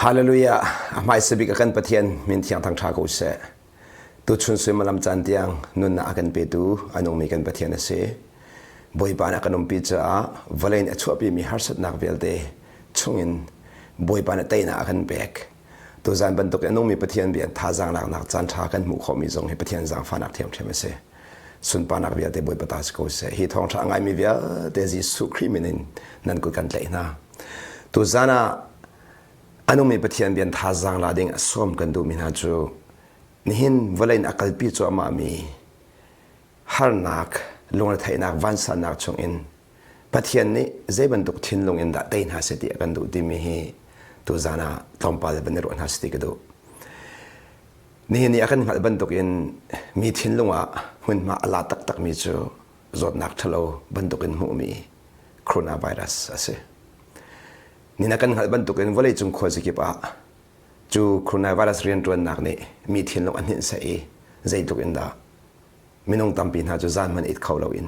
Hallelujah! A hmaisa bik a kan Pathian min thiangthang ṭha ko seh. Tuchun suimilam caan tiang nunnak a kan petu a nungmi kan Pathian a si. Bawipa nih a kan umpi caah vawlei nih a chuahpimi harsatnak vialte chungin Bawipa nih teinak a kan pek. Tuzan bantuk in nungmi Pathian bia thazaang laknak caanṭha kan hmuh khawhmi zong hi Pathian zaangfahnak ṭhiamṭhiam a si. Sunparnak vialte Bawipa ta si ko seh. Hi thawngṭha a ngaimi vialte Jesuh Khrih min in nan kut kan tlaih hna. Tuzan ah a nungmi Pathian bia thazaang la ding a sawm kan duhmi hna cu nihin vawlei in a kalpi cuahmahmi harnak, lungretheihnak, vansannak chungin Pathian nih zei bantuk thinlung in dah tei hna seh ti a kan duh timi hi tuzan ah tlawmpal le van i ruah hna seh ti ka duh. Nihin i a kan hngalh bantukin mi thinlung ah hmunhma a la taktakmi cu zawtnak ṭhalo bantukin hmuhmi coronavirus a si. Ni na kan hngalh bantukin vawleicung khuazi kip ah cu coronavirus rianṭuannak nih mi thinlung a hninh seh i zeitluk in dah minung tampi hna cu zan man it kho loin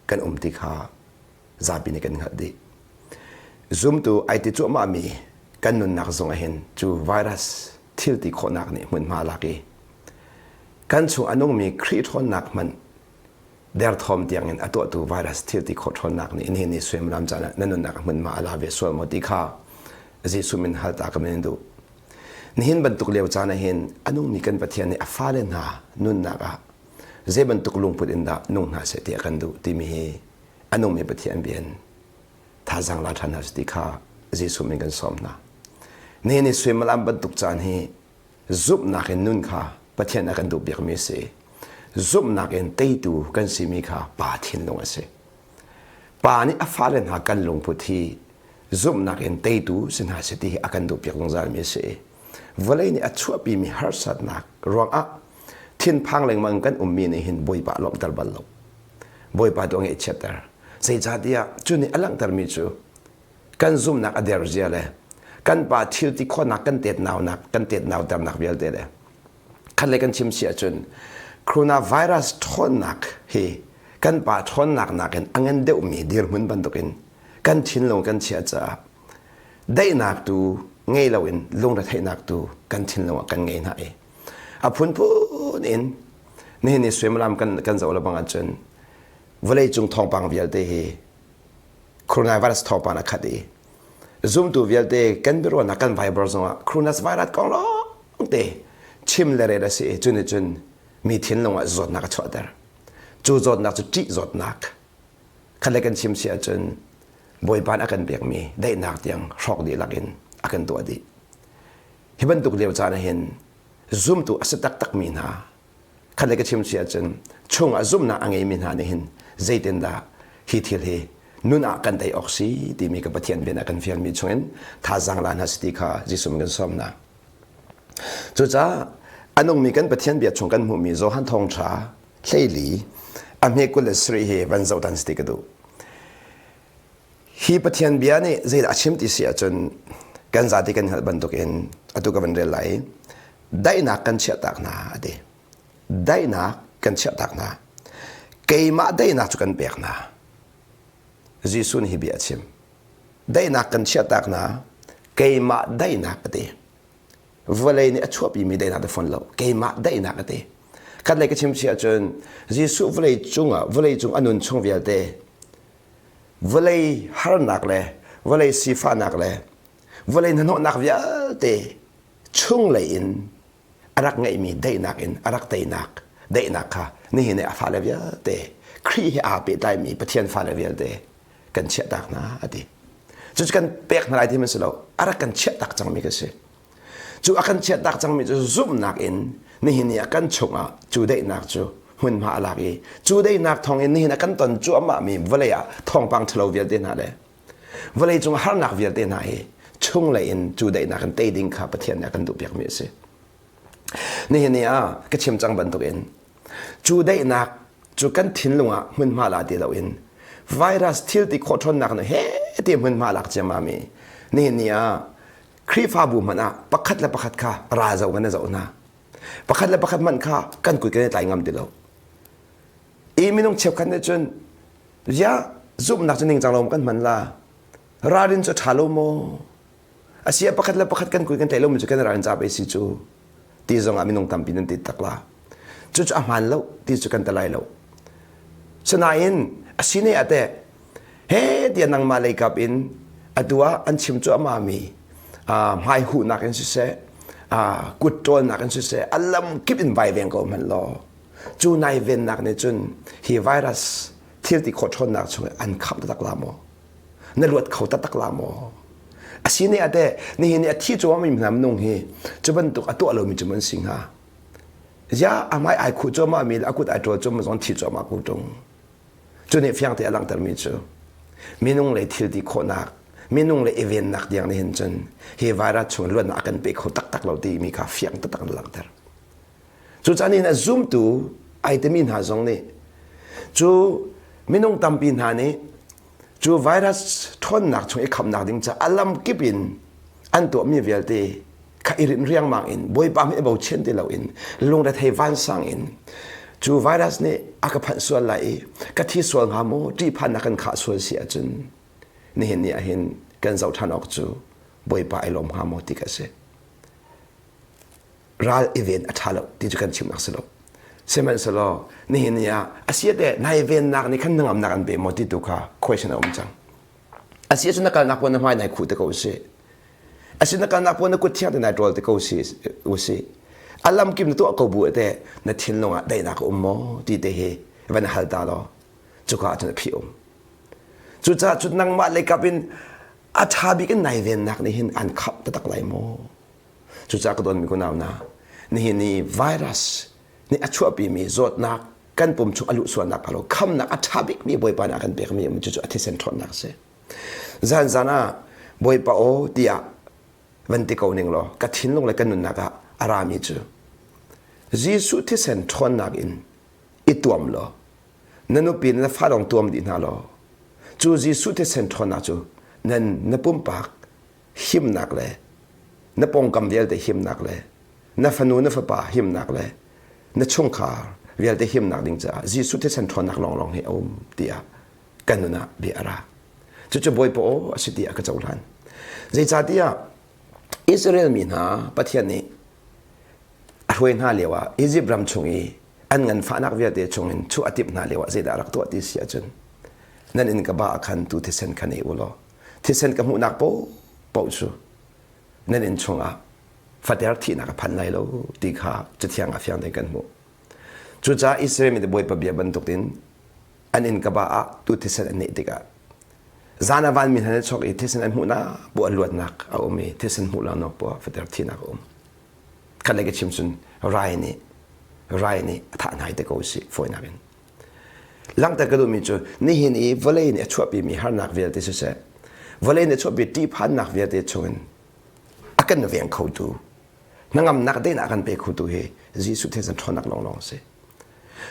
kan um ti kha zapi nih kan hngalh dih zumtu ai ti cuahmahmi kan nunnak zung ahhin cu virus thil ti khawhnak nih hmunhma lak i kan chung a nungmi Khrih ṭhawnnak hmanh derthawm tiangin a tuahtu virus thil ti khawh ṭhawnnak nih nihin ni suimilam caan ah na nunnak hmunhma a la ve sual maw ti kha Jesuh min hal ta ka min in duh Nihin bantuk lio caan ah hin a nungmi kan Pathian nih a fale hna nunnak ah zei bantuk lungput in dah nung hna seh ti a kan duh timi hi a nungmi Pathian bia in thazang la ṭhan hna ti kha Jesuh min kan sawm hna. Nihin i suimalam bantuk caan hi zumhnak in nun kha Pathian a kan duh biakmi a si. Zumhnak in teitu kan simi kha pa thinlung a si. Pa nih a fale hna kan lungput hi zumhnak in teitu si hna si ti hi a kan duhpiak zungzalmi a si i vawlei nih a chuahpimi harsatnak ruangah thinphang lengmang in kan ummi nih hin Bawipa lawmhter bal lo Bawipa tu ngeih chiatter zeicahtiah cu nih a langhtermi cu kan zumhnak a der zia le kan pa thil ti khawhnak kan tet naunak kan tet nauternak vialte le khatlei kan chim si ahcun coronavirus ṭhawnnak hi kan pa ṭhawnnak nakin a ngan deuhmi dirhmun bantukin kan thinlung kan chiah caah daihnak tu ngei loin lungretheihnak tu kan thinlung ah kan ngei hna i a phunphun in nihin ni suimilam kan kan zoh le bang ahcun vawleicung thawngpang vialte hi coronavirus thawngpang a khat i zumtu vialte kan biaruahnak kan Viber zongah coronavirus kong lawngte chim le ret a si i cun i cun mi thinlung ah zawtnak a chuahter cu zawtnak cu ṭih zawtnak khalle kan chim si ahcun bawipa a kan pekmi daihnak tiang hrawk dihlak in a kan tuah dih hi bantuk lio caan ah hin zumtu a si taktakmi hna khat le ka chim si ahcun chungah zumhnak a ngeimi hna nih hin zeitindah hi thil hi nun ah kan tei awk si timi ka Pathian bian ah kan fialmi chungin thazang la hna si ti kha Jesuh min kan sawm hna cucaah a nungmi kan Pathian bia chung kan hmuhmi Johan thawngṭha hleili a hme kul le sarih hi van zoh tan si ti ka duh Hi Pathian bia nih zeidah a chim ti si ahcun kan zate kan hngalh bantukin atu ka van rel lai i daihnak kan chiahtak hna a ti. Daihnak kan chiahtak hna. Keimah daihnak cu kan pek hna. Jesuh nih hi bia a chim. Daihnak kan chiahtak hna. Keimah daihnak a ti. Vawlei nih a chuahpimi daihnak te fawn lo. Keimah daihnak a ti. Kan lei ka chim si ahcun Jesuh vawlei cungah vawlei cung a nun chung vialte vawlei harnak le vawlei sifahnak le vawlei hnahnawhnak vialte chunglei in a rak ngeihmi daihnak in a rak teinak daihnak kha nihin i a fale vialte Khrih he aa pehtlaimi Pathian fale vialte kan chiahtak hna a ti cucu kan pek hna lai ti hman si lo a rak kan chiahtak cangmi kan si Cu a kan chiahtak cangmi cu zumhnak in nihin i a kan chungah cu daihnak cu hmunhma a lak i cu daihnak thawngin nihin a kan ton cuahmahmi vawlei ah thawngpang ṭhalo vialte hna le vawlei cung harnak vialte hna hi chunglei in cu daihnak in tei ding kha Pathian nih a kan duhpiakmi a si. Nihin ni ah ka chim cang bantukin cu daihnak cu kan thinlung ah hmunhma la ti loin virus thil ti khawh ṭhawnnak nih hete hmunhma lak ciammam i nihin ni ah Khrihfabu hmanh ah pakhat le pakhat kha ra zoh in na zoh hna. Pakhat le pakhat hmanh kha kan kut kan i tlai ngam ti lo. I minung cheukhat nih cun, ya zumhnak cu ningcang lo kan hman la. Ralrin cu ṭha lo maw? A si ah pakhat le pakhat kan kut kan tlaih lomi cu kan ralrin caap si cu. Ti zongah minung tampi nan tit tak la. Cucu a hmaan lo ti cu kan ti lai lo. Sinain a sine ah teh he tiah nangmah lei kap in atu ah an chim cuahmah mi hmai huhnak in siseh kut ṭawlnak in siseh a lam kip in vaiveng ko hmanh law cu nai vennak nih cun hi virus thil ti khawh ṭhawnnak chung an khap taktak la maw na luat kho taktak la maw a si ne ate nihin a thi cuah mi nam nung hi cu bantuk a tuah lomi cu mun si hnga ya amai ai khu cuahmah mi a kut ai ṭol cuah ma zong thi cuahmah ku ṭung cu nih fiangte a langhtermi cu minung le thilti khawhnak minung le i vennak tiang nih hin cun hi virus chung luannak a kan pe kho taktak lo timi kha fiang taktak in langhter cucaah nihin a zumtu ai timi hna zong nih cu minung tampi hna nih cu virus ṭhawnnak chung i khamnak ding ca a lam kip in an tuahmi vialte kha i rin riangmang in bawipa mi bochin ti loin lungre thei vansang in cu virus nih a ka phanh sual lai i ka thi sual hnga mu ṭihphan a kan khah sual si ahcun nihin ni ahhin kan zoh ṭhan awk cu bawipa i lawm hnga maw ti ka si ral i ven a ṭha lo ti cu kan chim a si lo sihmanhsehlaw nihin ni ah a si te nai vennak nih khan na ngamnak an pe maw ti tu kha question a um cang Asi ahcun na kalnak puan na hmai nai khuh te ko usih. Asi na kalnak puan na kut thiang te nai ṭawl te ko usih. A lamkim na tuah ko bu te na thinlung ah daihnak a um maw ti te hi van hal ta law cuka ahcun a phi um. Cucaah cu nangmah leikap in a ṭha bik in nai vennak nih hin an khap tatak lai maw. Cucaah ka donmi kunau na nihin i virus nih a chuahpimi zawtnak kan pum chung a luh sualnak phalo khamnak a ṭha bikmi Bawipa nak kan pekmi um cucu a thisen ṭhawnnak a si zan zan ah Bawipa aw tiah van ti ko ning law ka thinlung le ka nunnak ah a rami cu Jesuh thisen ṭhawnnak in i tuam law na nupi na fa dong tuam dih hna law cu Jesuh thisen ṭhawnnak cu nan na pumpak himnak le na pawngkam vialte himnak le na fanu na fapa himnak le na chungkhar vialte himnak ding caah Jesuh thisen ṭhawnnak lawnglawng hi a um tiah kan nun ah bia a ra cucu bawipa aw a si tiah ka cohlan zeicahtiah Israel mi hna Pathian nih a hruai hna lio ah Egypt ram chung i an nganfahnak vialte chungin chuh a timh hna lio ah zeidah rak tuah ti si ahcun nan in ka ba ah khan tu thisen khan ei u law thisen ka hmuhnak pohpoh cu nan inn chungah fater thihnak a phan lai lo ti kha cathiang a fiang tein kan hmuh cucaah Israel mi bawipa bia bantukin an inn kaba ah tu thisen an neh tikah zan a van mi hna chok i thisen an hmuhnak bu an luatnak a um i thisen hmuh lo nak bu fater thihnak a um kan le ka chim cun rai nih rai nih a thah hna te ko si fawinak in Langhter ka duhmi cu nihin i vawlei nih a chuahpimi harnak vialte siseh vawlei nih a chuahpi ṭihphannak vialte chungin a kan veng khotu hnangamnak tein a kan pe khotu hi Jesuh thisen ṭhawnnak lawnglawng a si.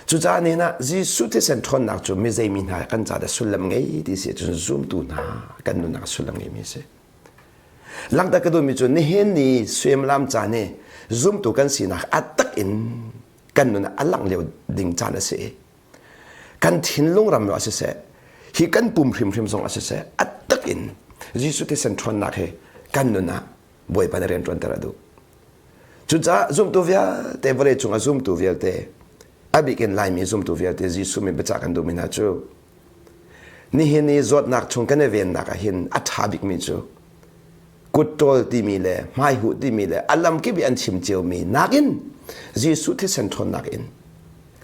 Cucaah nihin ah Jesuh thisen ṭhawnnak cu mi zeimi hna kan caah sullam ngei ti si ahcun zumtu hna kan nunnak sullam ngeimi a si. Langhter ka duhmi cu nihin ni suimilam caan i zumtu kan sinak a tak in kan nun a langh lio ding caan a si i kan thinlung ram a si seh hi kan pum hrimhrim zong a si seh a tak in Jesuh thisen ṭhawnnak he kan nun ah bawipa na rian ṭuanter a duh cucaah zumtu vialte vawlei cung a zumtu vialte a bik in Laimi zumtu vialte Jesuh min biacah kan duhmi hna cu nihin i zawtnak chung kan i vennak ah hin a ṭha bikmi cu kutṭawl timi le hmaihuh timi le a lamkip i an chim ciomi nakin Jesuh thisen ṭhawnnak in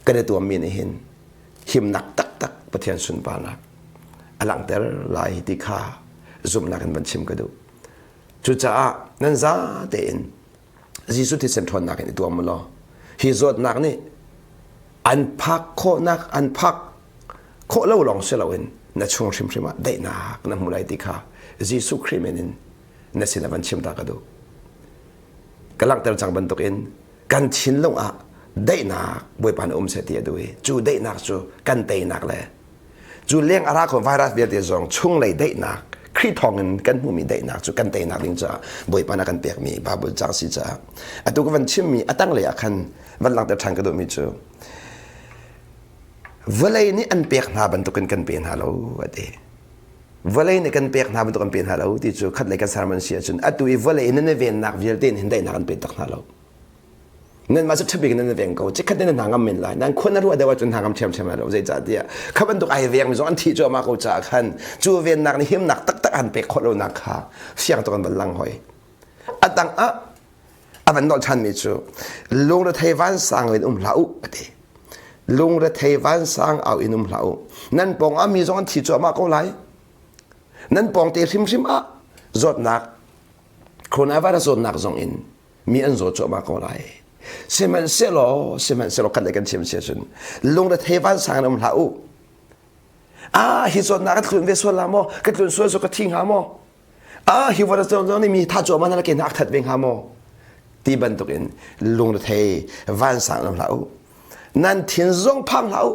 kan i tuammi nih hin himnak taktak Pathian sunparnak a langhter lai ti kha zumhnak in van chim ka duh. Cucaah nan zate in Jesuh thisen ṭhawnnak in i tuam law hi zawtnak nih an phak khawhnak an phak khawh lo lawng si loin na chung hrimhrim ah daihnak na hmu lai ti kha Jesuh Khrih men in na sinah van chim ta ka duh ka langhter cang bantukin kan thinlung ah daihnak bawipa na um seh ti a duh i cu daihnak cu kan teinak le Cu leng a ra kho virus vialte zong chunglei daihnak Khrih thawngin kan hmumi daihnak cu kan teinak ding caah Bawipa na kan pekmi Bible caang si caah atu ka van chimmi a tanglei ah khan van langhter ṭhan ka duhmi cu vawlei nih an pek hna bantukin kan pe hna lo a ti vawlei nih kan pek hna bantuk kan pe hna lo ti cu khatlei kan sermon si ahcun atu i vawlei nan i vennak vialte in hin daihnak an pe tak hna lo nanmah cu ṭhabik in nan veng ko chikkhat in hna ngam men lai nan khuan na ruah deuh ahcun hna ngam ṭhiamṭhiam lai lo zeicahtiah kha bantuk ai veng mi zong an thi cuahmah ko caah khan cu vennak nih himnak taktak an pek khawh lonak kha fiang tuk an van lang hoi a dang ah a van nolh ṭhanmi cu lungrethei vansang in um hlah u a ti lungrethei vansang au in um hlah u nan pawng ah mi zong an thi cuahmah ko lai nan pawng te hrimhrim ah zawtnak coronavirus zawtnak zong in mi an zaw cuahmah ko lai sihmanhsehlaw sihmanhsehlaw kan kan thiam sia cun lungrethei vansang in um hlah u ah hi zawtnak ka tlun ve sual la maw ka tlun sual cu ka thi hnga maw ah hi vara zong nih mi tha cuah ma na ke hnak that ve hnga maw ti bantukin lungrethei vansang in um hlah u nan thin zong phang hlah u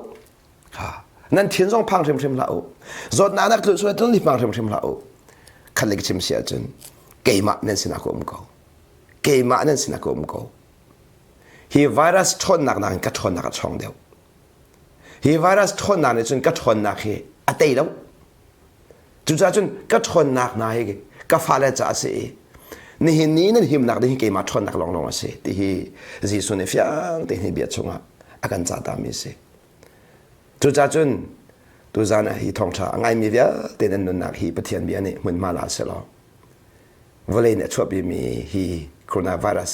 nan thin zong phang hrimhrim hlah u zawtnak nak tu sual ni phang hrimhrim hlah u khat le chim si ahcun keimah nan sinah ka um ko keimah nan sinah ka um ko hi virus ṭhawnnak nak in ka ṭhawnnak a chawng deuh hi virus ṭhawnnak nih cun ka ṭhawnnak hi a tei lo Cucaah cun ka ṭhawnnak hna hi ka fale caah a si i nihin ni nan himnak ding hi keimah ṭhawnnak lawnglawng a si ti hi Jesuh nih fiang tein hi bia chungah a kan cahtami a si. Cucaah cun tuzan ah hi thawngṭha a ngaimi vialte nan nunnak hi Pathian bia nih hmunhma la selaw vawlei nih a chuahpimi hi coronavirus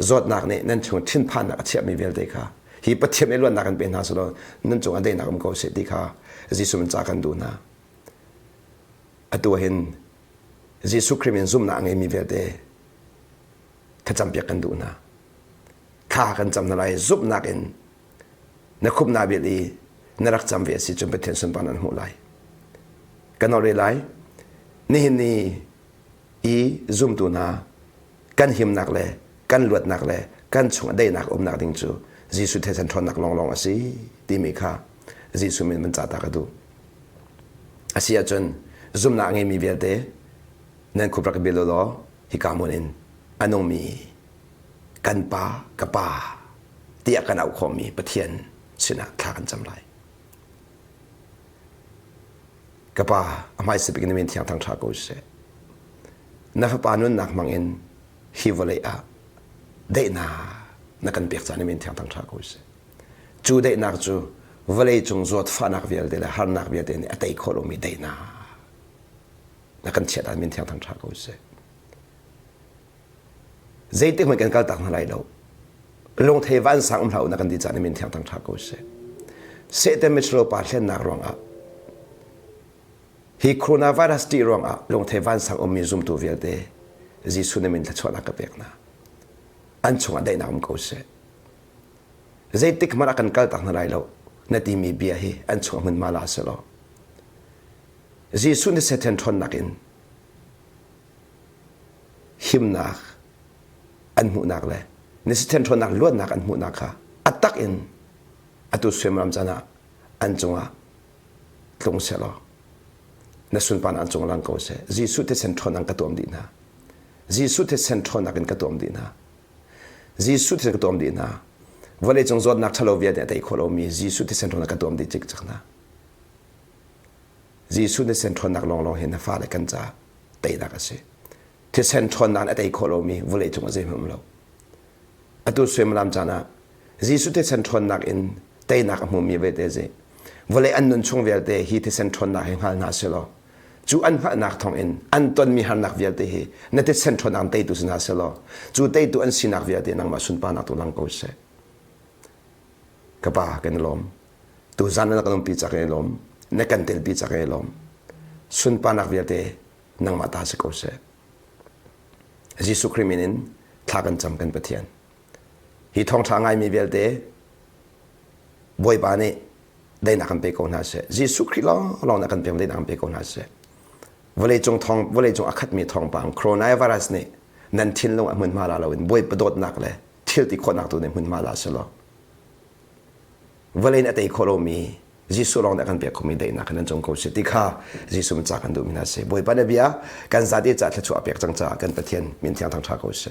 Zawtnak nih nan chung thinphannak a chiahmi vialte kha hi Pathian i luatnak kan pe hna selaw nan cung ah daihnak um ko seh ti kha Jesuh in ca kan duh hna. Atu ah hin Jesuh Khrih in zumnak a ngeimi vialte thlacampiak kan duh hna. Thla kan cam hna lai zumhnak in na khumh na bil i na rak cam ve a si cun Pathian sunparnak na hmuh lai. Kan ore lai, nihin ni i zumtu hna kan himnak le kan luatnak le kan chung daihnak umnak ding cu Jesuh theisen ṭhawnnak lawnglawng a si timi kha Jesuh min man cahta ka duh. A si ahcun zumnak a ngeimi vialte nan khuprak bil law hika mun in a nungmi kan pa ka pa tiah kan auh khawhmi Pathian sinah thla kan cam lai. Ka pa a hmai sipik na men thiang thang ṭha ko sih. na fapa nunnak hmangin hi vawlei ah daihnak na kan pek caan i men thiang thang ṭha ko sih. Cu daihnak cu vawleicung zawt fahnak vialte le harnak vialte nih a tei khawh lomi daihnak na kan chiat ah men thiang thang ṭha ko sih. Zeitik hmanh kan kaltak hna lai lo. Lungthei vansang um hlah u na kan ti caan i men thiang thang ṭha ko sih. Satan mit pa hlennak ruangah Hi coronavirus ṭih ruangah lungthei vansang ummi zumtu vialte Jesuh nih min thluachuahnak ka pek hna. An chungah daihnak um ko sih. Zeitik hmanh ah kan kaltak hna lai lo na timi bia hi an chungah hmun ma la si law Jesuh nih Satan ṭhawnnak in himnak an hmuhnak le na Satan ṭhawnnak luatnak an hmuhnak kha a tak in atu suimilam can ah an cungah tlung selaw na sunpan an cung lang ko seh jesuh thisen ṭhawn an ka tuam dih hna jesuh thisen ṭhawnnak in ka tuam dih hna jesuh thisen ka tuam dih hna vawlei cung zawtnak ṭhalo vialte a tei khawh lomi jesuh thisen ṭhawn ka tuam dih cik cik hna jesuh thisen ṭhawnnak lawnglawng hi na fale kan ca teinak a si thisen ṭhawnnak a tei khawh lomi vawlei cung a zeihmanh lo atu suimilam caan ah Jesuh thisen ṭhawnnak in teinak a hmumi vete zi. Vawlei an nun chung vialte hi thisen ṭhawnnak hi hngal hna selaw, cu an hngalhnak thawng in an tonmi harnak vialte hi na thisen ṭhawnnak teitu si hna selaw, cu teitu an sinak vialte nangmah sunparnak tu lang ko seh. Ka pa kan i lawm. Tu zan na kan umpi cak kan i lawm. Na kan telpi cak kan i lawm. Sunparnak vialte nangmah ta si ko seh. Jesuh Khrih min in thla kan cam kan Pathian. Hi thawngṭha ngaimi vialte Bawipa nih dainak kan pe ko hna sih. Jesuh Khrih lawng nih kan pek dainak kan pe ko hna sih. Vawleicung thawng vawleicung a khatmi thawngpang coronavirus nih nan thinlung a hmunhma la loin Bawipa dawtnak le thil ti khawhnak tu nih hmunhma la si law vawlei in a tei khawh lomi Jesuh lawng nih kan pek khomi daihnak in nan cung ko si ti kha Jesuh min ca kan duhmi hna si. Bawipa nih bia kan zate caah thluachuah a pek cang caah kan Pathian min thiang thangṭha ko si.